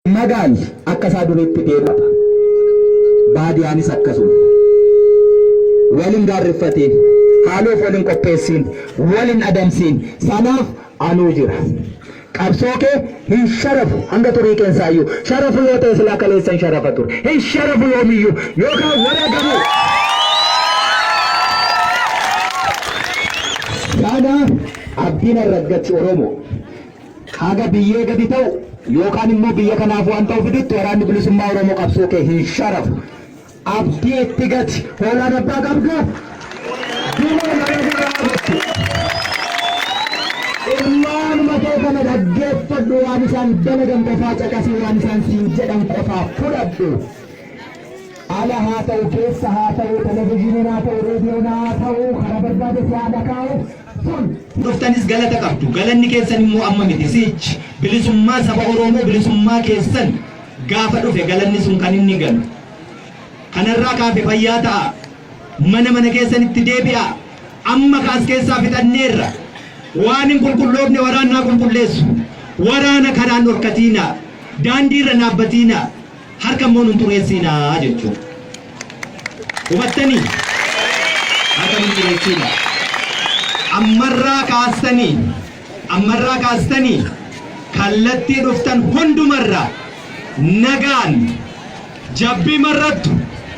Magaal akka isaa duriitti deemata. Baadiyaanis akkasuma. Wal hin gaarriffatiin. Haaloof wal hin qopheessiin. Wal hin adamsiin. Sanaaf anuu jira. Qabsoo kee hin sharafu hanga xurii keensaayyuu. Sharafu yoo ta'e silaa kaleessan sharafa ture. Hin sharafu yoomiyyuu. Yookaan wareegamuu. Sana abdiin arraggachi Oromoo. Haga biyyee gadi ta'u yookaan immoo biyya kanaaf waan ta'u fidutti waraanni bilisummaa Oromoo qabsoo kee hin sharafu. Abdii itti gati. Hoolaan abbaa qabdu dumaan kana sirraa fudhatti. Ilmaanuma kee kana dhaggeeffadhu waan isaan dalagan qofaa caqasii waan isaan siin jedhan qofaa fudhadhu. Ala haa ta'u keessa haa ta'u televizyiiniin haa ta'u reediyoon haa ta'u karaa barbaade si haa dhakaa'u. dhuftanis galata qabdu. Galanni keessan immoo amma miti sichi. Bilisummaa saba Oromoo bilisummaa keessan gaafa dhufe galanni sun kan inni galu. Kanarraa kaafe fayyaa ta'a. Mana mana keessanitti deebi'a. Amma kaas keessaa fixanneerra. Waan hin qulqulloofne waraannaa qulqulleessu. Waraana karaan dhorkatiina. Daandiirra naabbatiina. Harka immoo nun xureessiinaa jechuudha. Hubattanii? Harka nun xureessiinaa. Ammarraa kaastanii, ammarraa kaastanii kallattii dhuftan hundumarraa nagaan jabbii marrattu.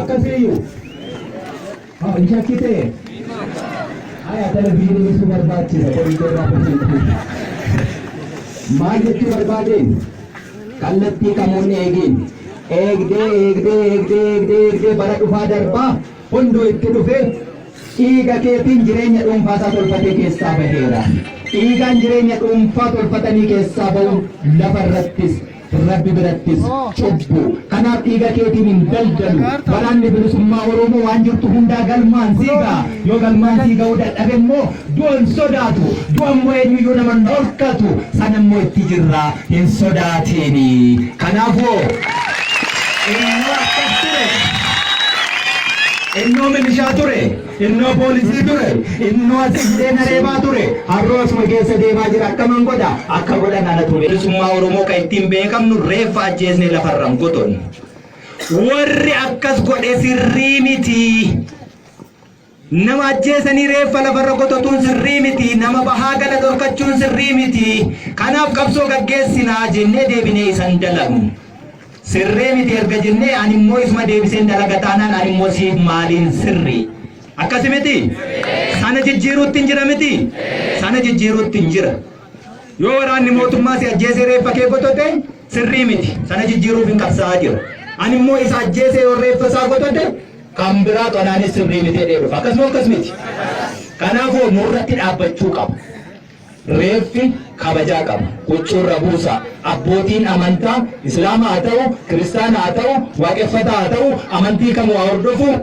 Akkasiiyyu. Haa hin shakkitee? Haya televizyiinii ibsuu barbaachisa qorinqoo irraa barsiisuuf. Maal jechuu barbaadeen? Kallattii kamoonni eegeen. Eegdee eegdee eegdee eegdee eegdee bara dhufaa darbaa hunduu itti dhufee dhiiga keetiin jireenya dhuunfaa isaa tolfatee keessaa baheera. Dhiigaan jireenya dhuunfaa tolfatanii keessaa bahu lafa irrattis Rabbi birattis cubbu. Kanaaf dhiiga keetiin hin daldalu. Waraanni bilisummaa Oromoo waan jirtu hundaa galmaan sii ga'a. Yoo galmaan sii ga'uu dadhabe immoo du'a hin sodaatu. Du'a immoo eenyuyyuu nama hin dhorkatu. Sana immoo itti jirra hin sodaatiini. Kanaafuu innoo akkas ture. Innoo milishaa ture. Innoo poolisii ture, innoo asi hidhee na reebaa ture, harroo asuma keessa deemaa jira akkaman godha, akka godhan anatu beeka. Bilisummaa Oromoo kan ittiin beekamnu reeffa ajjeesnee lafarra hin qotonnu. Warri akkas godhe sirrii miti. Nama ajjeesanii reeffa lafarra qototuun sirrii miti. Nama bahaa gala dhorkachuun sirrii miti. Kanaaf qabsoo gaggeessinaa jennee deebinee isan dalagnu. Sirrii miti erga jennee ani immoo isuma deebiseen dalaga taanaan ani immoo siif maaliin sirri? Akkasi miti? Sana jijjiiruutti hin jira miti? Sana jijjiiruutti hin jira. Yoo waraanni mootummaa si ajjeesee reeffa kee gotote sirrii miti. Sana jijjiiruuf hin qabsaa'aa jira. Ani immoo isa ajjeesee yoo reeffa isaa gotote kan biraa qanaanis sirrii miti jedhee dhufa. Akkasuma akkas miti? Kanaafuu nurratti dhaabbachuu qaba. Reeffi kabajaa qaba. Huccuu irra buusaa. Abbootiin amantaa Islaama haa ta'uu, Kiristaana haa ta'uu, Waaqeffataa haa ta'uu, amantii kamuu haa hordofuu,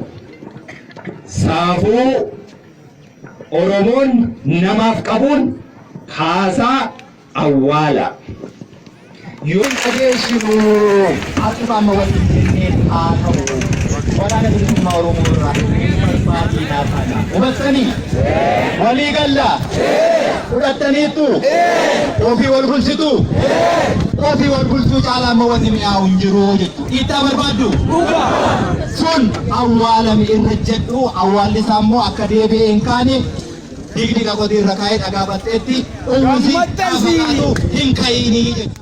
saafuu Oromoon namaaf qabuun kaasaa awwaalaa. Yoon qajeeshinu akkuma amma walitti seenneen haa ta'u. Waraana bilisummaa Oromoo irraa dhufee salphaa diinaa kana. Hubattanii? Walii galla? Fudhattaniittu? Ofii wal bulchitu? Ofii wal bulchuu caalaa amma wanni mi'aawu hin jiru jechuudha. Dhiittaa barbaaddu? Sun awwaalame irra jedhu awwaalli isaa immoo akka deebi'ee hin kaane digdiga qotii irra kaa'ee dhagaa batteetti uwwisi gaafa kaatu hin ka'iinii jechuudha.